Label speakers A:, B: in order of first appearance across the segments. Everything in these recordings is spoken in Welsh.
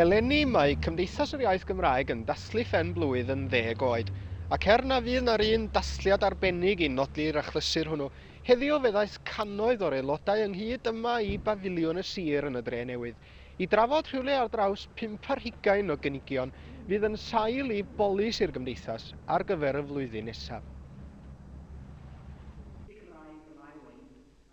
A: Eleni, mae Cymdeithas yr Iaith Gymraeg yn dathlu phen blwydd yn ddeg oed, ac er na fydd na'r un dathliad arbennig i nodi'r achlysur hwnnw, heddiw fe ddaeth cannoedd o'r aelodau ynghyd yma i bafiliwn y sir yn y Dre Newydd i drafod rhywle ar draws pump ar hugain o gynigion fydd yn sail i bolisi'r Gymdeithas ar gyfer y flwyddyn nesaf.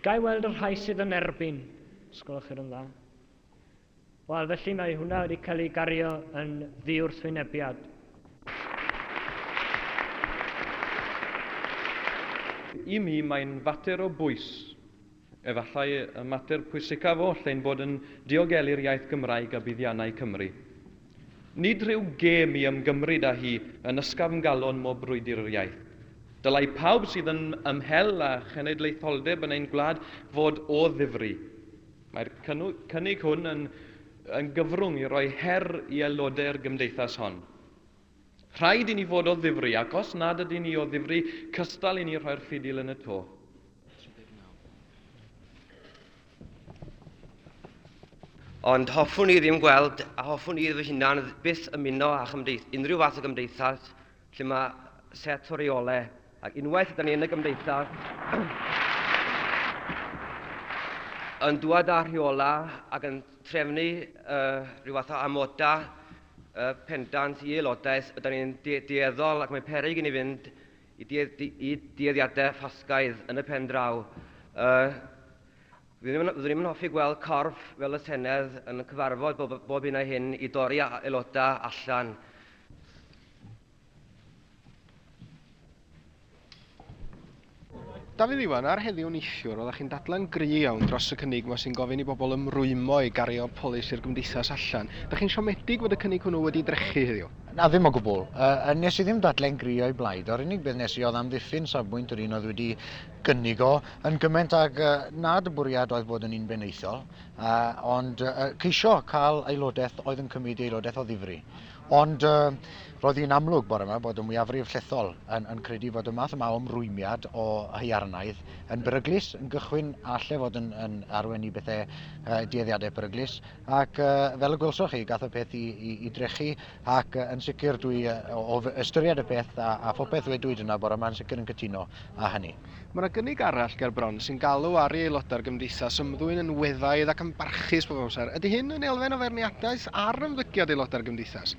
B: Ga i weld y rhai sydd yn erbyn? Os gwelwch chi'r yn dda. Wel, felly mae hwnna wedi cael ei gario yn ddiwrthwynebiad.
C: I mi, mae'n fater o bwys. Efallai y mater pwysicaf oll ein bod yn diogelu'r iaith Gymraeg a buddiannau Cymru. Nid rhyw gêm i ymgymryd â hi yn ysgafn galon mo brwydr yr iaith. Dylai pawb sydd yn ymhell â chenedlaetholdeb yn ein gwlad fod o ddifri. Mae'r cynnig hwn yn yn gyfrwng i roi her i aelodau'r gymdeithas hon. Rhaid i ni fod o ddifri, ac os nad ydyn ni o ddifri, cystal i ni rhoi'r ffidil yn y to.
D: Ond hoffwn i ddim gweld, a hoffwn i fy hunan byth ymuno â chymdeith, unrhyw fath o gymdeithas lle mae set o reolau, ac unwaith ydyn ni yn y gymdeithas, yn dŵad â rheolau ac yn trefnu uh, rhyw fath o amodau uh, pendant i aelodaeth, ydyn ni'n de dueddol ac mae'n peryg i ni fynd y dueddiadau Ffasgaidd yn y pen draw. Yy, fyddwn ni'm yn hoffi gweld corff fel y Senedd yn cyfarfod bob, bob hyn a hyn i dorri aelodau allan.
A: Dafydd Iwan, ar heddiw neithiwr, oeddech chi'n dadlen gry iawn dros y cynnig yma sy'n gofyn i bobl ymrwymo i gario polisi'r gymdeithas allan. Dych chi'n siomedig fod y cynnig hwnnw wedi drechu heddiw? Na, ddim o gwbl.
E: Yy, nes i ddim dadlen gri o'i blaid. Yr unig beth nes i oedd amddiffyn safbwynt yr un oedd wedi gynnig o, yn gyment ag uh, nad y bwriad oedd bod yn un benaethol, uh, ond uh, ceisio cael aelodaeth oedd yn cymryd aelodaeth o ddifri. Ond uh, roedd hi'n amlwg bore yma bod y mwyafrif llethol yn, yn credu bod y math yma o ymrwymiad o haiarnaidd yn beryglus, yn gychwyn a lle fod yn, yn arwen i bethau uh, dueddiadau peryglus, Ac fel y gwelsoch chi, gath y peth i, i, i drechu, ac yn sicr dwi, o ystyried y peth a, a phopeth ddwedwyd yna bore yma, yn sicr yn cytuno â hynny. Mae yna gynnig arall
A: ger bron sy'n galw ar ei aelodau'r Gymdeithas ymddwyn yn weddaidd ac yn barchus pob amser. Ydy hyn yn elfen o feirniadaeth ar ymddygiad aelodau'r Gymdeithas?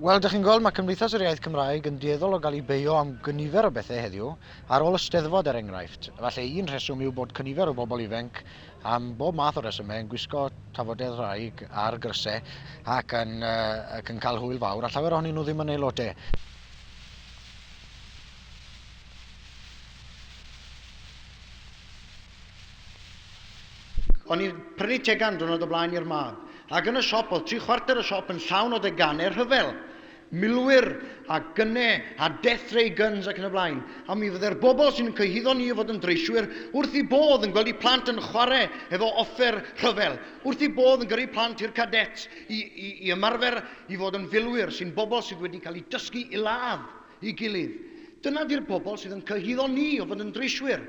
A: Wel, dych chi'n gweld,
E: mae Cymdeithas yr Iaith Cymraeg yn dueddol o gael ei beio am gynifer o bethau heddiw, ar ôl y Steddfod er enghraifft. Falle un rheswm yw bod cynifer o bobl ifenc Am bob math o resymau, yn gwisgo tafodedd-raig ar grysau ac yn, uh, ac yn cael hwyl fawr, a llawer ohonyn nhw ddim yn aelodau. O'n i'n prynu tegan diwrnod o blaen i'r mab, ac yn y siop oedd tri chwarter y siop yn llawn o deganau rhyfel. milwyr a gyne a death ray guns ac yn y blaen, a mi fydde'r bobl sy'n cyhuddo ni o fod yn dreiswyr wrth eu bodd yn gweld eu plant yn chwarae efo offer rhyfel, wrth eu bodd yn gyrru plant i'r cadets i, i, i ymarfer i fod yn filwyr, sy'n bobl sydd wedi cael eu dysgu i ladd i gilydd. Dyna 'di'r bobl sydd yn cyhuddo ni o fod yn dreiswyr.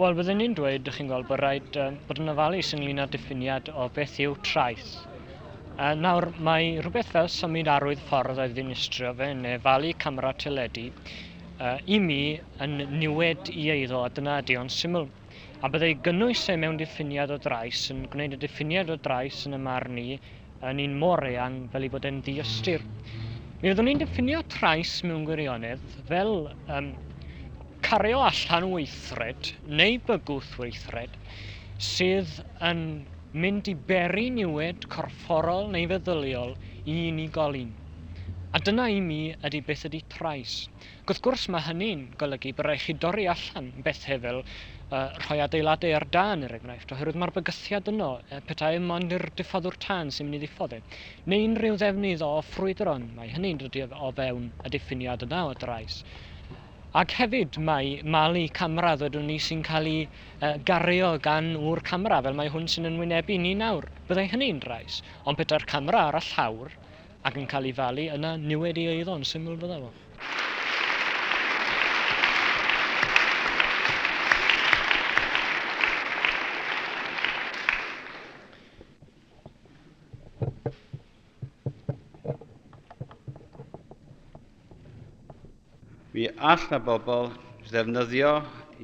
B: Wel, byddwn ni'n dweud, ydych chi'n gweld, bod rhaid uh, bod yn ofalus ynglyn â diffiniad o beth yw traeth. Uh, nawr, mae rhywbeth fel symud arwydd ffordd o'i ddinistrio fe neu falu camera teledu uh, i mi yn niwed i eiddo a dyna ydy o'n syml. A byddai gynnwys e mewn diffiniad o drais yn gwneud y diffiniad o drais yn y marn i yn un mor eang fel ei bod e'n diystyr. Mi fyddwn ni'n diffinio trais mewn gwirionedd fel um, cario allan weithred neu bygwth weithred sydd yn mynd i beri niwed corfforol neu feddyliol i unigolyn. A dyna i mi ydy beth ydy trais. ac wrth gwrs mae hynny'n golygu bod rhaid chi dorri allan bethau fel rhoi adeiladau ar dân er enghraifft, oherwydd mae'r bygythiad yno petai mond i'r diffoddwr tân sy'n mynd i ddiffod e, neu unrhyw ddefnydd o ffrwydr ond mae hynny'n dod o fewn y diffiniad yna o drais. Ac hefyd mae malu camera ddwedwn ni sy'n cael ei gario gan ŵr camera fel mae hwn sy'n yn wynebu ni nawr, byddai hynny'n drais, ond petai'r camera ar y llawr, Ac yn cael ei falu, yna niwed ei eiddo, yn syml fydda fo.
F: Mi all na bobl ddefnyddio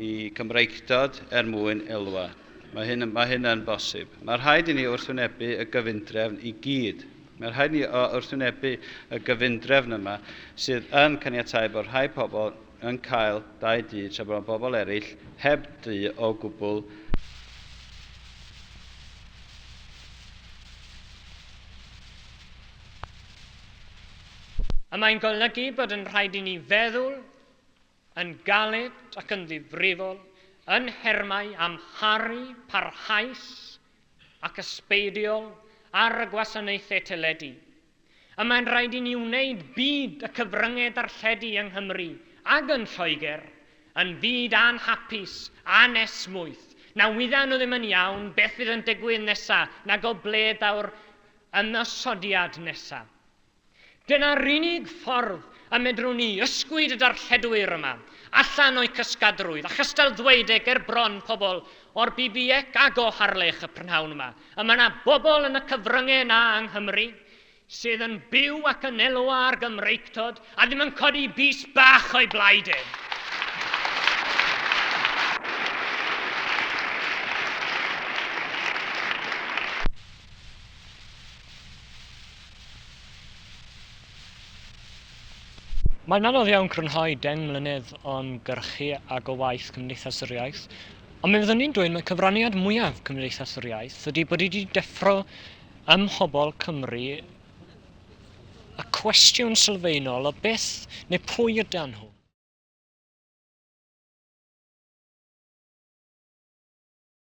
F: i Gymreictod er mwyn elwa. Mae hyn, mae hyn yn bosib. Mae rhaid i ni wrthwynebu y gyfundrefn i gyd. Mae rhaid ni wrthwynebu y gyfundrefn yma sydd yn caniatau bod rhai pobl yn cael dau du tra bod bobl eraill heb du o gwbl.
B: A mae'n golygu bod yn rhaid i ni feddwl yn galed ac yn ddifrifol yn nhermau amharu parhaus ac ysbeidiol ar y gwasanaethau teledu. A mae'n rhaid i ni wneud byd y cyfryngau darlledu yng Nghymru ac yn Lloegr yn fyd anhapus, anesmwyth, na wyddan nhw ddim yn iawn beth fydd yn digwydd nesaf, nag o ble daw'r ymosodiad nesaf. Dyna'r unig ffordd y medrwn ni ysgwyd y darlledwyr yma allan o'u cysgadrwydd a chystal ddweud e ger bron pobl o'r BBEC ag o Harlech y prynhawn yma, y mae 'na bobl yn y cyfryngau 'na yng Nghymru sydd yn byw ac yn elwa ar Gymreictod a ddim yn codi bys bach o'u blaid e. Mae'n anodd iawn crynhoi deng mlynedd o ymgyrchu ag o waith Cymdeithas yr Iaith, ond mi fyddwn i'n dweud mai cyfraniad mwyaf Cymdeithas yr Iaith ydi bod hi wedi deffro ym mhobl Cymru y cwestiwn sylfaenol o beth neu pwy ydan nhw?